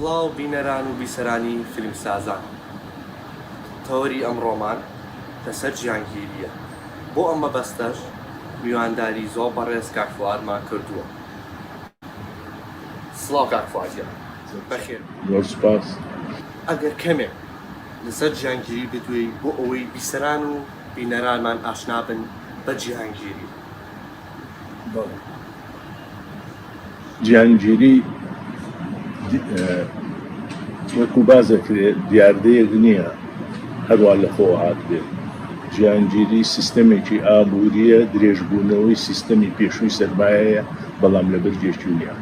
سڵاو بینەران و بیسەرانی فیلمسازان تەوەری ئەمڕۆمان لەسەر جیهانگیریە بۆ ئەم مەبەستەش میوانداری زۆر بەڕێز کاک فوئادمان کردووە سڵاو کاک فوئاد گیان بەخێر بێی. زۆر سوپاس. ئەگەر کەمێک لەسەر جیهانگیری بدوێی بۆ ئەوەی بیسەران و بینەرانمان ئاشنا بن بە جیهانگیری. جیهانگیری وەکو باس دەکرێت دیاردەیەک نییە هەروە لە خۆ هاتبێت جیهانگیری سیستەمێکی ئابووریە درێژبوونەوەی سیستەمی پێشووی سەرمایەیە بەڵام لە بەرگێکی نیە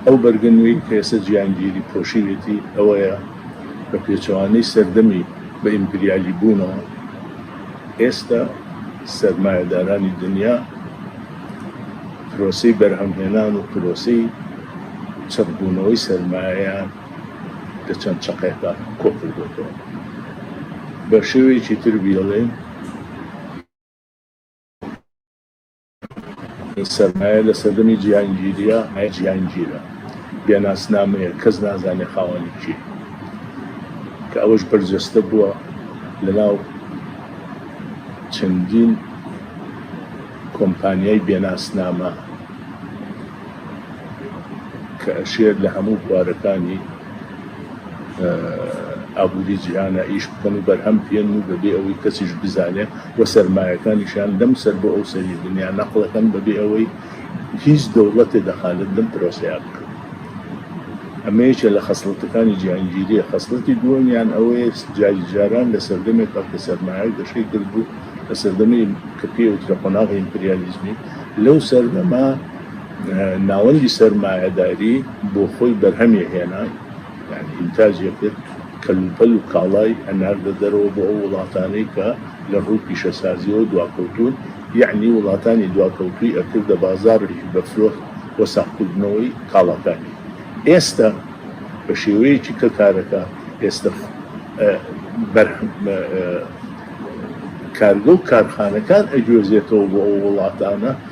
ئەو بەرگنوی کەێسە جیهانگیری پۆشیوێتی ئەوەیە بە پێچەوانەی سەردەمی بە ئیمپریالی بوونەوە ئێستا سەرمایەدارانی دنیا پرۆسەی بەرهەمهێنان و پرۆسەی چڕبوونەوەی سەرمایەیان لە چەند چەقێکدا کۆکردۆتەوە. بە شێوەیەکی تر بیڵێین، سەرمایە لە سەردەمی جیهانگیریە ئای جیهانگیرە بێ ناسنامەیە کەس نازانێ خاوەنی کێ کە ئەوەش بەرجەستە بووە لەناو چەندین کۆمپانیای بێناسنامە کە ئەشێت لە هەموو بوارەکانی ئابووری جیهانە ئیش بکەن و بەرهەم بهێنن و بەبێ ئەوەی کەسیش بزانێ و سەرمایەکانیشیان لەم سەر بۆ ئەو سەری دنیا نەقڵ ئەکەن بەبێ ئەوەی هیچ دەوڵەتێ دەخالت لەم پرۆسەیە بکەن ئەمە یەکێ لە خەسڵەتەکانی جیهانگیریە خەسڵەتی دووەمیان ئەوەیە جاری جاران لە سەردەمێک کە سەرمایە گەشەی کرد بوو لە سەردەمی کە پێوترە قۆناغی ئیمپریالیزمی لەو سەردەما ناوەندی سەرمایەداری بۆ خۆی بەرهەمێ هێنا، یانی ئینتاجێ کرد، کەلوپەل و کاڵای هەناردە دەرەوە بۆ ئەو وڵاتانەی کە لە ڕووی پیشەسازییەوە دواکەوتوون، یانی وڵاتانی دواکەوتووی ئەکردە بازاڕێکی بەفرۆخت و ساغکردنەوەی کاڵاکانی. ئێستە بە شێوەیەکی کە کارەکە ئێستە کارگە و کارخانەکان ئەگوێزێتەوە بۆ ئەو وڵاتانە،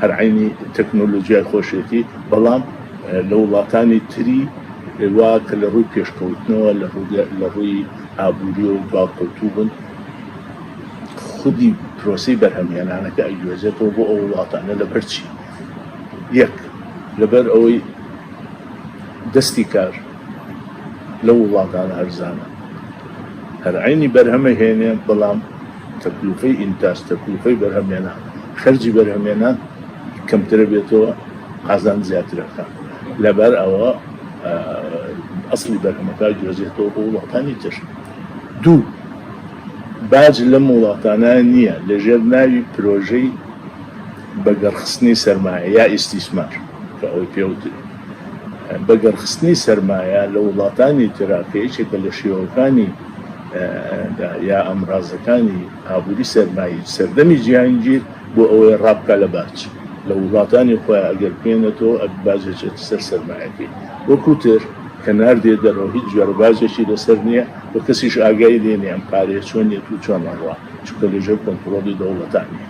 هەر عەینی تەکنۆلۆجیای خۆشێتی، بەڵام لە وڵاتانی تری وا کە لە ڕووی پێشکەوتنەوە لە ڕووی ئابووریەوە دواکەوتوو بوون، خودی پرۆسەی بەرهەمهێنانەکە ئەیگوێزێتەوە بۆ ئەو وڵاتانە لەبەرچی؟ یەک لەبەر ئەوەی دەستی کار، لەو وڵاتانە هەرزانە هەر عینی بەرهەمە هێنێ بەڵام تەکلوفەی ئینتاج تەکلوفەی بەرهەمێنە خەرجی بەرهەمێنە کەمترە بێتەوە قازان زیاترەکە لەبەر ئەوە ئەسلی بەرهەمەکە گوێزێتەوە بۆ وڵاتانی تر دوو باج لەم وڵاتانە نییە لەژێر ناوی پرۆژەی بەگەڕخستنی سەرمایە یا ئیسیسمار کە ئەوەی پێوتری بەگەڕخستنی سەرمایە لە وڵاتانی ترا کە یەکێکە لە شێوەکانی دا یا ئامرازەکانی ئابووری سەرمایی سەردەمی جیهانگیر بۆ ئەوەی ڕابکا لە باج لە وڵاتانی خۆیان ئەگەر بێنێتەوە ئەک باجێک چێتە سەر سەرمایەکەی وەکوو تر کە ناردێ دەرەوە هیچ جۆرە باجێکی لەسەر نییە و کەسیش ئاگای لێ نییە ئەم پارەیە چۆنیەت و چۆن ئەڕوا چونکە لەژێر کۆنتڕۆڵی دەوڵەتان نییە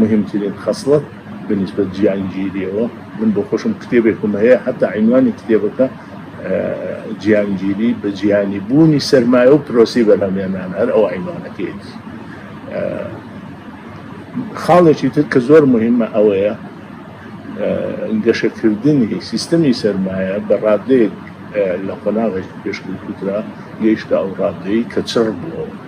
مهمترین خەسڵەت بە نیسبەت جیهانگیریەوە من بۆ خۆشم کتێبێکم هەیە هەتا عینوانی کتێبەکە جیهانگیری بە جیهانی بوونی سەرمایە و پرۆسی بەرهەمێنان هەر ئەو عینوانەکەیەتی خاڵێکی تر کە زۆر مهمە ئەوەیە گەشەکردنی سیستەمی سەرمایە بە ڕادەیەک لە قۆناغێک پێشکەوتوترا گەیشتە ئەو ڕادەی کە چڕ بووەوە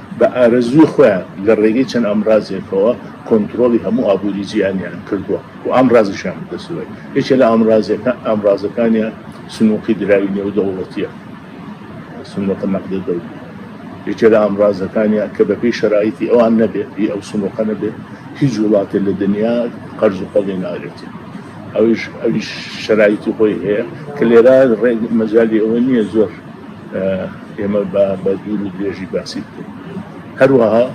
بە ئارەزووی خۆیان لە ڕێگەی چەند ئامرازێکەوە کۆنترۆڵی هەموو ئابووری جیهانیان کردووە و ئامرازیشیان بەدەستەوەیە. یەکێ لە ئامرازەکانیان سندووقی دراوی نێودەوڵەتییە، صندوق نقد دولي. یەکێ لە ئامرازەکانیان کە بەپێی شەرایتی ئەوان نەبێت، پێی ئەو سندووقە نەبێت، هیچ وڵاتێ لە دنیا قەرز و قۆڵی ناگرێت. ئەویش شەرایتی خۆی هەیە کە لێرە مەجالی ئەوە نییە زۆر. ئێمە بە بە دوور و درێژی باسی بکەین هەروەها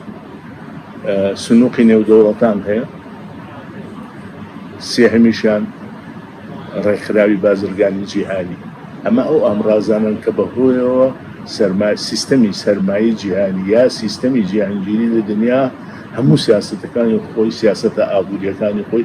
سنووقی نێودەوڵەتان هەیە سێهمیشیان ڕێکخراوی بازرگانی جیهانی ئەمە ئەو ئامرازانن کە بەهۆیەوە سەرمای سیستەمی سەرمایی جیهانی یا سیستەمی جیهانگیری لە دنیا هەموو سیاستەکانی خۆی سیاستە ئابوووریەکانی خۆی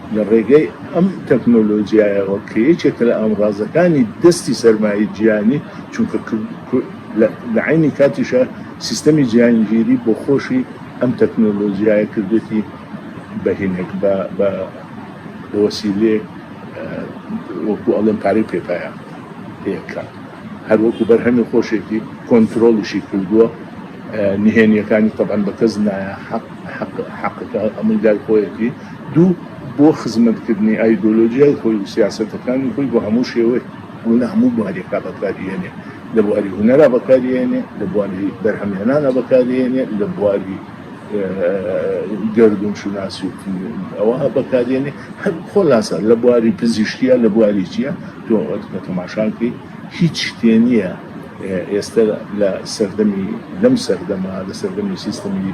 لە ڕێگەی ئەم تەکنۆلۆجیایەوە کە یەکێکە لە ئامڕازەکانی دەستی سەرمایەی جیهانی چونکە لە عینی کاتیشە سیستەمی جیهانگیری بۆ خۆشی ئەم تەکنۆلۆجیایە کردێتی بەهینێک بە وەسیلێ وەکو ئەڵێن پارەی پێپایە پێکە هەروەکو بەرهەمی خۆشێتی کۆنتترۆڵیشی کردووە نهێنیەکانی تەبان بە کەس نایە حەق حەقەکە ئەمەی دای خۆیەتی دوو، بۆ خزمەتکردنی ئایدۆلۆژیای خۆی و سیاسەتەکانی خۆی بە هەموو شێوەیەک و لە هەموو بوارێکا بەکاریهێنێ، لە بواری هونەرا بەکاریهێنێ، لە بواری بەرهەمهێنانا بەکاریهێنێ، لە بواری گەردوون شوناسی و ئەوها بەکاریهێنێ، هەر خۆلاسە لە بواری پزیشکیا لە بواری چیا، تۆ کە تەماشا بکەی هیچ شتێ نییە ئێستە لە سەردەمی لەم سەردەما لە سەردەمی سیستەمی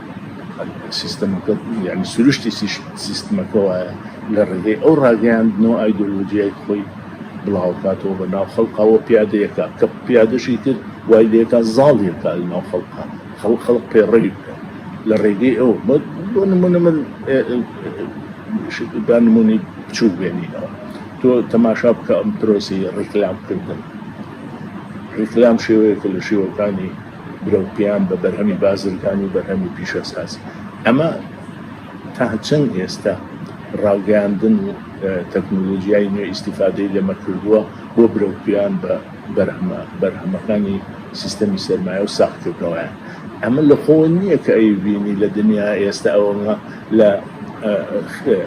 سیستەمەکە یعنی سروشتی سیستمەکە وایە لە ڕێگەی ئەو ڕاگەیاندنەوە ئایدۆلۆژیای خۆی بڵاوکاتەوە بە ناو خەڵقەوە پیادەیەەکە کە پیادەشی تر وای لێکە زاڵیەکە لە ناو خەڵقە خەڵ خەڵق پێڕەوی بکە لە ڕێگەی ئەو بۆ نمونە من با نمونی بچوو بێنینەوە تۆ تەماشا بکە ئەم پرۆسی ڕیکلام کردن ڕیکلام شێوەیەکە لە شێوەکانی برەوپیان بە بەرهەمی بازرگانی و بەرهەمی پیشەسازی ئەمە تا چەند ئێستا ڕاوگەاندن و تەکنۆلۆژیای نوێ ئیسیفادەی لەمە کردووە بۆ برەوپیان بە بەرهەمە بەرهەمەکانی سیستەمی سەرمایە و ساختکردنەوەیان ئەمە لە خۆ نییە کە ئەی بینی لە دنیا ئێستا ئەومە لە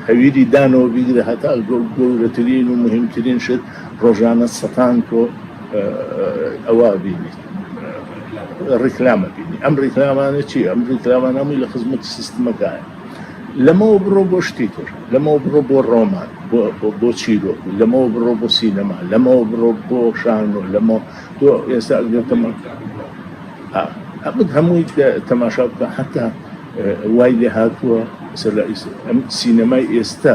هەویری دانەوە بیگرە هەتا گەورەترین و مهمترین شت ڕۆژانە سەتان کۆ ئەوە بینیت ڕیکلامە بینی ئەم ڕیکلامانە چی ئەم ڕیکلامان هەمووی لە خزمەت سیستمەکان لەمەوە بڕۆ بۆ شتی تر لەمەوە بڕۆ بۆ ڕۆمان بۆ چیرۆک لەمەوە بڕۆ بۆ سینەما لەمەوە بڕۆ بۆ شان و لەمە تۆ ئێستا ئەگەتەمە ئەمت هەمووی تەماشا بکە حتا وای لێ هاتووە ئەم سینەمای ئێستا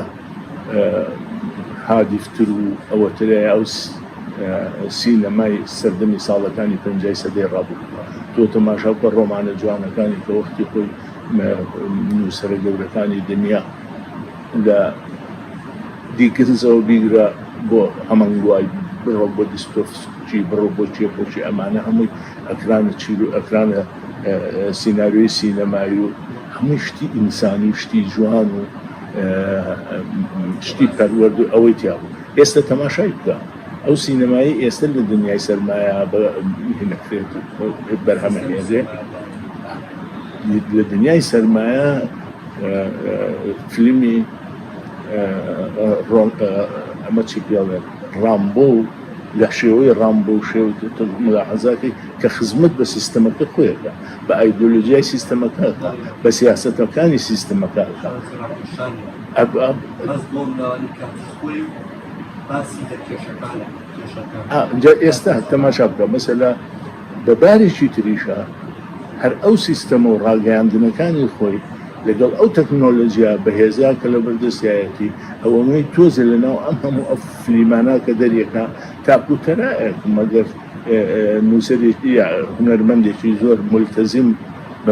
هادیفتر و ئەوەترای ئەوس سی لە مای سەردەمی ساڵەکانی پەنجای سەدەی ڕابردووە. تۆ تەماشا بکە ڕۆمانە جوانەکانی کە وەختی خۆی نووسەرە گەورەکانی دنیا لە دیکنزەوە بیگرە بۆ هەمەنگوای بڕۆ بۆ دیستۆفسکی بڕۆ بۆ چێ بۆ چێ ئەمانە هەمووی ئەکرانە چیر و ئەکرانە سیناریۆی سینەمایی و هەمووی شتی ئینسانی و شتی جوان و شتی پەروەرد و ئەوەی تیا بوو. ئێستە تەماشای بکە ئەو سینەمای ئێستە لە دنیای سەرمایە بەهێنەکرێت بەرهەمەهێنرێ لە دنیای سەرمایە فیلمی ئەمە چی پێڵێت ڕامبۆ و لە شێوەی ڕامبۆ و شێو ملاحەزاتی کە خزمەت بە سیستەمەکە خۆیەکە بە ئایدۆلۆژیای سیستەمەکە بە سیاستەکانی سیستەمەکە جا ئێستا تەماشا بکە مەسەلا بە بارێکی تریشە هەر ئەو سیستەمە و ڕاگەیاندنەکانی خۆی لەگەڵ ئەو تەکنۆلۆژیا بەهێزیا کە لە بەردەستایەتی ئەوەی تۆزە لە ناو ئەم هەموو ئەف فلیمانە کە دەریەکە تاکوتەرایەک مەگەر نووسەرێکی هونەرمەندێکی زۆر ملتەزیم بە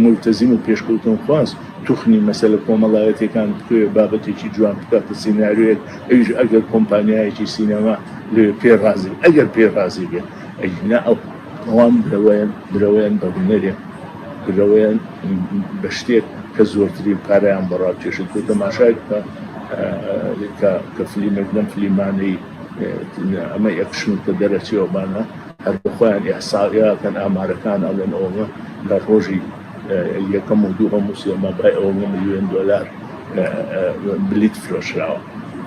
ملتەزیم و پێشکەوتن خواست توخنی مەسەلە کۆمەڵایەتیەکان بتوێ بابەتێکی جوان بکاتە سیناریۆیەک ئەویش ئەگەر کۆمپانیایەکی سینەما لێ پێ ڕازی ئەگەر پێ ڕازی بێت ئەینا ئەو ئەوان برەوەیان برەوەیان بە هونەرێ برەوەیان بە شتێک کە زۆرترین پارەیان بەڕا کێشت بۆ تەماشای بکە کە فلیمێک لەم فلیمانەی ئەمە یەکشن کە دەرەچێوەبانە هەر بخۆیان ئەحساقیاکەن ئامارەکان ئەڵێن ئەوە لە ڕۆژی یەکەم و دووهەم و سێ مەبای ئەو نە ملیۆن دۆلار بلیت فرۆشراوە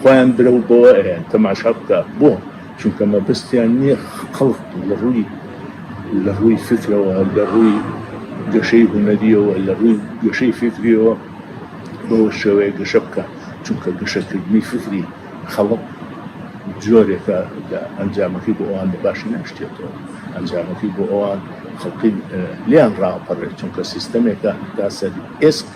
خۆیان برە و بەوە تەماشا بکە بۆ چونکە مەبستیان نییە خەڵک لە ڕووی لە ڕووی فکرەوە لە ڕووی گەشەی هوەریەوە لە ڕووی گەشەی فکریەوە بەوە شێوەیە گەشە بکە چونکە گەشەکردنی فکری خەڵک جۆرێکە لە ئەنجامەکەی بۆ ئەوان بەباشی ناشتێتەوە ئەنجامەکەی بۆ ئەوان خەڵقی لیان ڕاپەڕێت چونکە سیستەمێکە تا سەر ئێسک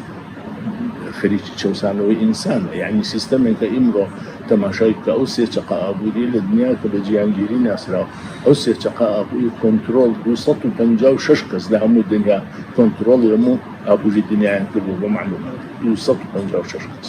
خەریکی چەسانەوەی ئینسان یعنی سیستەمێکە ئیمڕۆ تەماشای کە ئەو سێ چقا ئابووری لە دنیا کە بە جیانگیری ناسراوە ئەو سێ چقا ئابووری کۆنتترۆل 256 کەس لە هەموو دنیا کۆنتترۆڵ هەموو ئابووری دنیایان کردو بە معلومات 256 کەس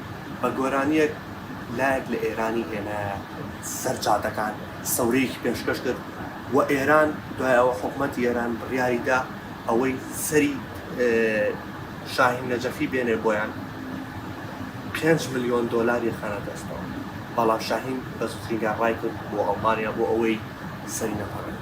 بە گۆرانییەک لایەک لە ئێرانی هێنایە سەر جادەکان، سەورەیەکی پێشکەش کرد و ئێران دوای ئەوە حکومەتی ئێران بڕیاری دا ئەوەی سەری شاهین نەجەفی بێنێ بۆیان پێنج ملیۆن دۆلار یەخەنە دەستەوە بەڵام شاهین بەزووترین کات ڕایکرد بۆ ئەڵمانیا بۆ ئەوەی سەری نەپەڕێنێ.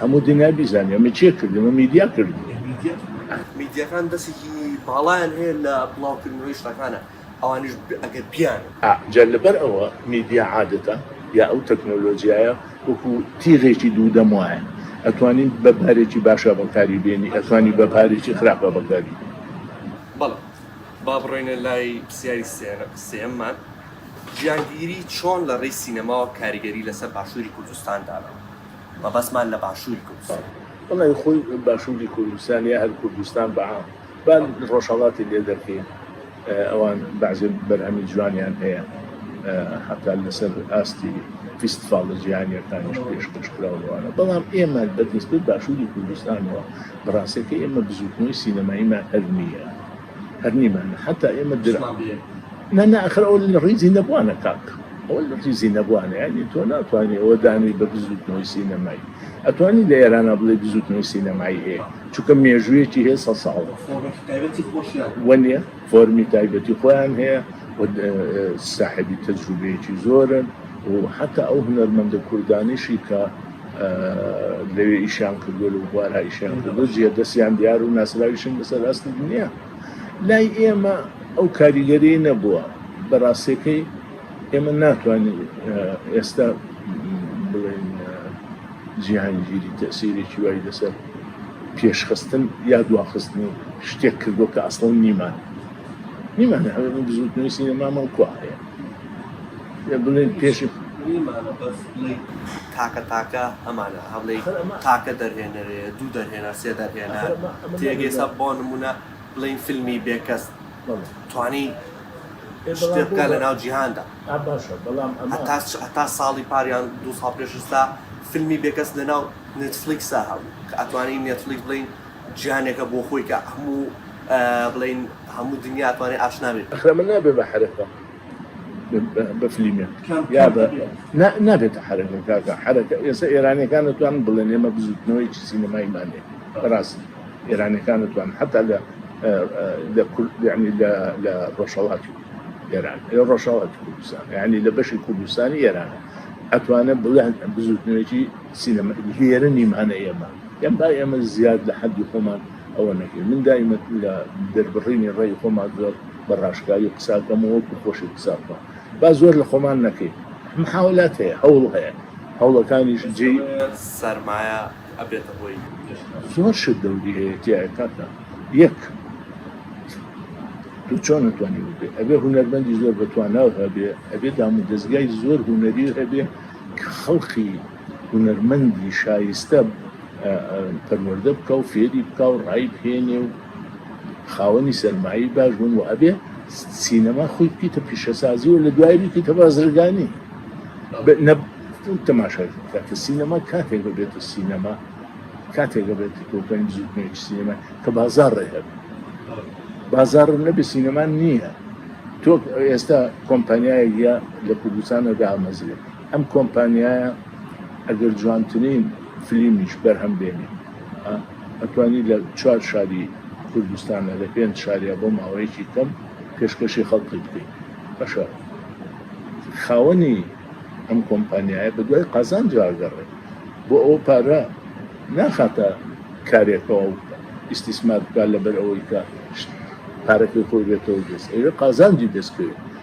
هەموو دنیا بیزانێ ئەمە چێ کردمە میدیا کرد میدیەکان دەستێکی باڵایان هەیە لە بڵاوکردنەوەی شتەکانە ئەوانش ئەگەر بیان جا لەبەر ئەوە میدیا عادەتە یا ئەو تەکنۆلۆژیایە وەکو تیغێکی دوو دەم وایە ئەتوانین بە پارێکی باشە بەکاری بێنی ئەتوانی بە پارێکی خراپە بەکاری بەڵ با بڕێنە لای پرسیاری سێممان جیهانگیری چۆن لە ڕێی سینەماوە کاریگەری لەسەر باشووری کوردستان داناوە؟ مەبەستمان لە باشووری کوردستان. وەڵای خۆی باشووری کوردستان یا هەر کوردستان بە عام با ڕۆژهەڵاتی لێ دەرکەین ئەوان بەعزێ بەرهەمی جوانیان هەیە حەتا لەسەر ئاستی فیستفاڵە جیهانیەکانیش پێشکەش کراوەوانە بەڵام ئێمە بە دەستپێ باشووری کوردستانەوە بەڕاستەکە ئێمە بزووتنەوەی سینەماییمان هەر نییە. هەرنی من حتا ئێمە در نەنا ئەخر ئەو لە ڕیزی نەبووانە کاک ئەوە لە ڕیزی نەبووانە ینی تۆ ناتوانانی ئەوە دانی بە بزوتنەوەی سینەمایی ئەتوانی لە ئێرانە بڵێ بزوتنەوەی سینەمایی هەیە چونکە مێژوویەکی هەیە سە ساڵە وەنیە فۆرمی تایبەتی خۆیان هەیە ساحبی تەجروبەیەکی زۆرن و حتا ئەو هونەرمەندە کوردانیشی کە لەوێ ئیشیان کردووە لە بوارا ئیشیان کردو جێ دەستیان دیار و ناسراویشن بەسەر ئاستی دنیا لای ئێمە ئەو کاریگەری نەبووە بەڕاستەکەی ئێمە ناتوانین ئێستا بڵێن جیهانگیری تەسیرێکی وای لەسەر پێشخستن یا دواخستن و شتێک کردو کە ئەسڵ نیمان نیمان بزوتنەوەی سینەمامە و کوواهەیە بڵێن پێشت ئیمانە بەس بڵێی تاکە تاکە ئەمانە هەڵێی تاکە دەرهێنەرێ دوو دەرهێنەر سێ دەرهێنە تێگەێسا بۆ نمونە بڵین فیلمی بێکەس توانی شتێ بکە لە ناو جیهاندا باشە بەڵام تا ساڵی پاریان دو ساڵ پێشستا فیلمی بێکەس لە ناو نتفلیکسا هەبوو کە ئەتوانی نێتفلیک بڵین جیانێکە بۆ خۆیکە هەموو بڵین هەموو دنیاتوانێت ئاشنابێت ئەخرە من نابێ بە حرفە بەفلیمێن نابێتە حرەکە کاکە حرەکە ئێستا ئێرانەکان توان بڵێن ئێمە بزوتنەوەی سینەمای مانێ ڕاست ئێرانەکان توان حتا لە لە کوردنی لە ڕۆژەڵاتی ئێران لە ڕۆژەڵات کوردستان ینی لە بەشی کوردستانی ئێران ئەتوانە بڵێن بزوتنەوەی سینەمە هێرە نیمانە ئێمە یان با ئێمە زیاد لە حەدی خۆمان ئەوە نەکەی من دایمە لە دەربڕینی ڕێی خۆمان زۆر بە ڕاشکاوی قساکەمەوە کو خۆشی قساکە با زۆر لە خۆمان نەکەی محاولات هەیە هەوڵ هەیە هەوڵەکانیش جێ سەرمایە ئەبێتە هۆی زۆر شت دەوری هەیە تایە کاکە یەک تو چۆن نتوانانی بێ ئەبێ هوەرمەندی زۆر بەتواناو هەبێ ئەبێ دام و دەستگای زۆر هوەری هەبێ کە خەڵقی هونەرمەندی شایستە پەروەردە بکا و فێری بکا و ڕای بهێنێ و خاوەنی سەرمایی باش بن و ئەبێ سینەما خۆی بکەیتە پیشەسازی و لە دوای بکەیتە بازرگانی تەماشای کاتە سینەما کاتێک ببێت و سینەما کاتێک بێت کۆکەین زودمێک سینەما کە بازار ڕێهێت بازار نەبێ سینەما نییە تۆ ئێستا کۆمپانیایە لە کوردستانە دامەزرێت ئەم کۆمپانیایە ئەگەر جوانترین فلیمیش بەرهەم بێنی ئەتوانی لە چوار شاری کوردستانە لە پێنج شاریا بۆ ماوەیەکی کەم پێشکەشی خەڵکی بکەین بەشە خاوەنی ئەم کۆمپانیایە بە دوای قازان جاگەڕێ بۆ ئەو پارە ناخاتە کارێکەوە ئیسیسمار بکات لەبەر ئەوەی کە پارەکەی خۆی بێتەوە دەست ئەوێ قازانجی دەستکەوێت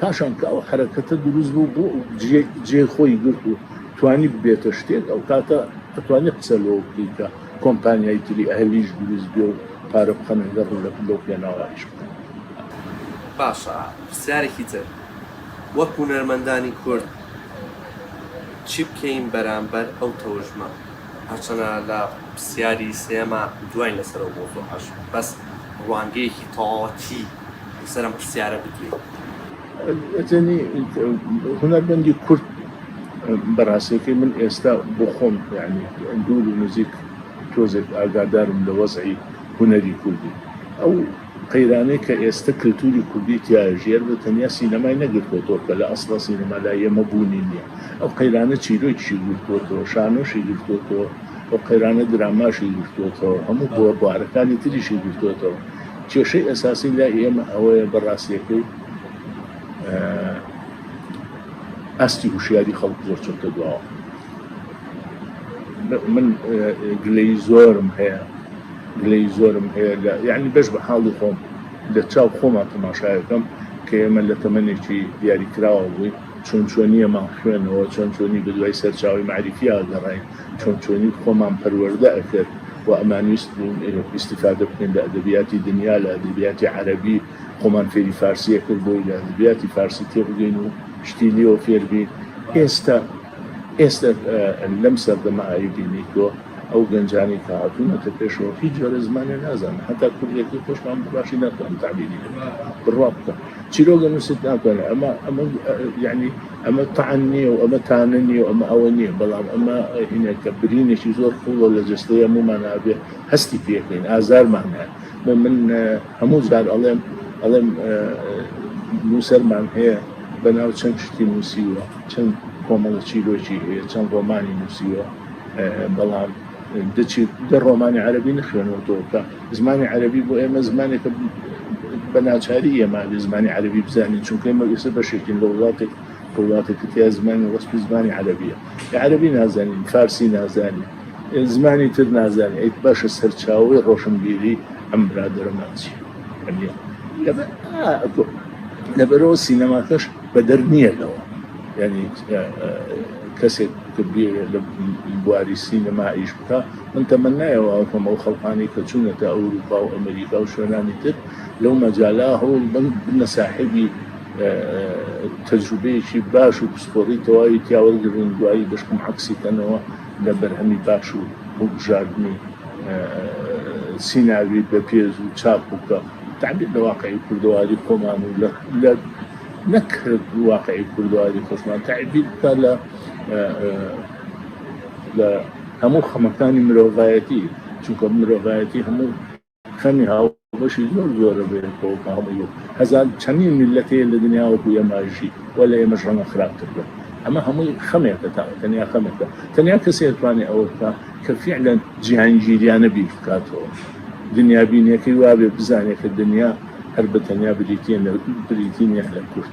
پاشان کە ئەو حەرەکەتە دروست بوو بۆ جێ خۆی گرت و توانی ببێتە شتێک ئەو کاتە ئەتوانی قسە لەوە بکەی کە کۆمپانیای تری ئەهلیش دروست بێ و پارە بخەنە گەڕ و لە لەو پێناوایش بکەن. باشە پرسیارێکی تر وەک هونەرمەندانی کورد چی بکەین بەرامبەر ئەو تەوژمە؟ هەرچەنە لە پرسیاری سێیەما دواین لەسەر ئەو مەوزوعەش بەس ڕوانگەیەکی تەواوەتی. لەسەر ئەم پرسیارە بکەین. ئەتەنی هونەرمەندی کورد بەڕاستەکەی من ئێستا بۆ خۆم یعنی دوور و نزیک تۆزێک ئاگادارم لە وەزعی هونەری کوردی ئەو قەیرانەی کە ئێستا کللتوری کوردی تیاژێر بە تەنیا سینەمای نەگرتوەوە کە لە ئەسڵ سینەما لا ئێمە بوونی نییە ئەو قەیرانە چیرۆکیشی گرتوەوە شانۆشی گرتوەوە ئەو قەیرانە دراماشی گرتوەوە هەموو بۆ بارەکانی تریشی گرتوەوە کێشەی ئەساسی لای ئێمە ئەوەیە بە ڕاستیەکەی ئاستی هوشیاری خەڵک زۆر چۆتە دواوە من گلەی زۆرم هەیە گلەی زۆرم هەیە لە یعنی بەش بە حاڵی خۆم لە چاو خۆمان تەماشایەکەم کە ئێمە لە تەمەێکی دیاریکراوە بووی چۆن چۆنیەمان خوێنەوە چۆن چۆنی بە دوای سەرچاوی معریفیا گەڕین چۆن چۆنی خۆمان پەروەردە ئەکرد و ئەمانویست بوون ئیستیفادە بکەین لە ئەدەبیاتی دنیا لە ئەدەبیاتی عەرەبی خۆمان فێری فارسی ئەکرد بۆی لە ئەدەبیاتی فارسی تێبگەین و شتی لێوە فێربین ئێستا ئێستا لەم سەردەمە ئاوی بینیتۆ ئەو گەنجانی کە هاتوونەتە پێشەوە هیچ جۆرە زمانێ نازان هەتا کوردێکی خۆشمان باشی ناتوان تابیری بڕوا بکە چیرۆگە نووسیت ناتوانێت ئەمە ئەمە یعنی ئەمە تەعن نییە و ئەمە تانە نییە و ئەمە ئەوە نییە، بەڵام ئەمە هینێک کە برینێکی زۆر قووڵە لە جەستەی هەموومان هەبێ هەستی پێکەین، ئازارمان هەیە. بۆ من هەموو جار ئەڵێم ئەڵێم نووسەرمان هەیە بەناو چەند شتی نووسیوە، چەند کۆمەڵە چیرۆکی هەیە، چەند ڕۆمانی نووسیوە، بەڵام دە چیر دە ڕۆمانی عەرەبی نەخوێنوەتەوە کە زمانی عەرەبی بۆ ئێمە زمانێکە بە ناچاری ئێمە بە زمانی عەربی بزانین چونکە ئمە ئێستا بەشێکین لە وڵاتێک وڵاتێکی تیا زمانی وەسپی زمانی عەربیە عەربی نازانین فارسی نازانین زمانی تر نازانین ئەیت باشە سەرچاوی ڕۆشنبیری ئەم برادرەمانچی لەبەرەوە سینەماکەش بە دەر نییە لەوە ینی کەسێک کە بێ لە بواری سینەما ئیش بکە من تەمەنای ئەوە ئەکەم ئەو خەڵکانەی کە چوونەتە ئەوروپا و ئەمریکا و شوێنانی تر لەو مەجالا هەوڵ بن بنە ساحێبی تەجروبەیەکی باش و پسپۆڕی تەواوی تیاوەرگرن دوایی بەشکم عکسی کەنەوە لە بەرهەمی باش و هەڵبژاردنی سیناوی بە پێز و چاپ بکە تعبیر لە واقعی کوردەواری خۆمان و لە نەک واقعی کوردەواری خۆشمان تعبیر بکە لە لە هەموو خەمەکانی مرۆڤایەتی چونکە مرۆڤایەتی هەموو خەمی هاوبەشی زۆر زۆرە بێتەوە کە هەموو هەزار چەندین میلەت هەیە لە دنیاوەکو ئێماژی و لە ئێمەش ڕەنگە خراپتر بێت ئەمە هەمووی خەمێکە تا تەنیا خەمێکە تەنیا کەسێ توانێت ئەوە بکە کە فعلەن جیهانگیریانە بیر بکاتەوە دنیابینەکەی وابێ بزانێت کە دنیا هەر بە تەنیا بریتیە بریتی نیە لە کورد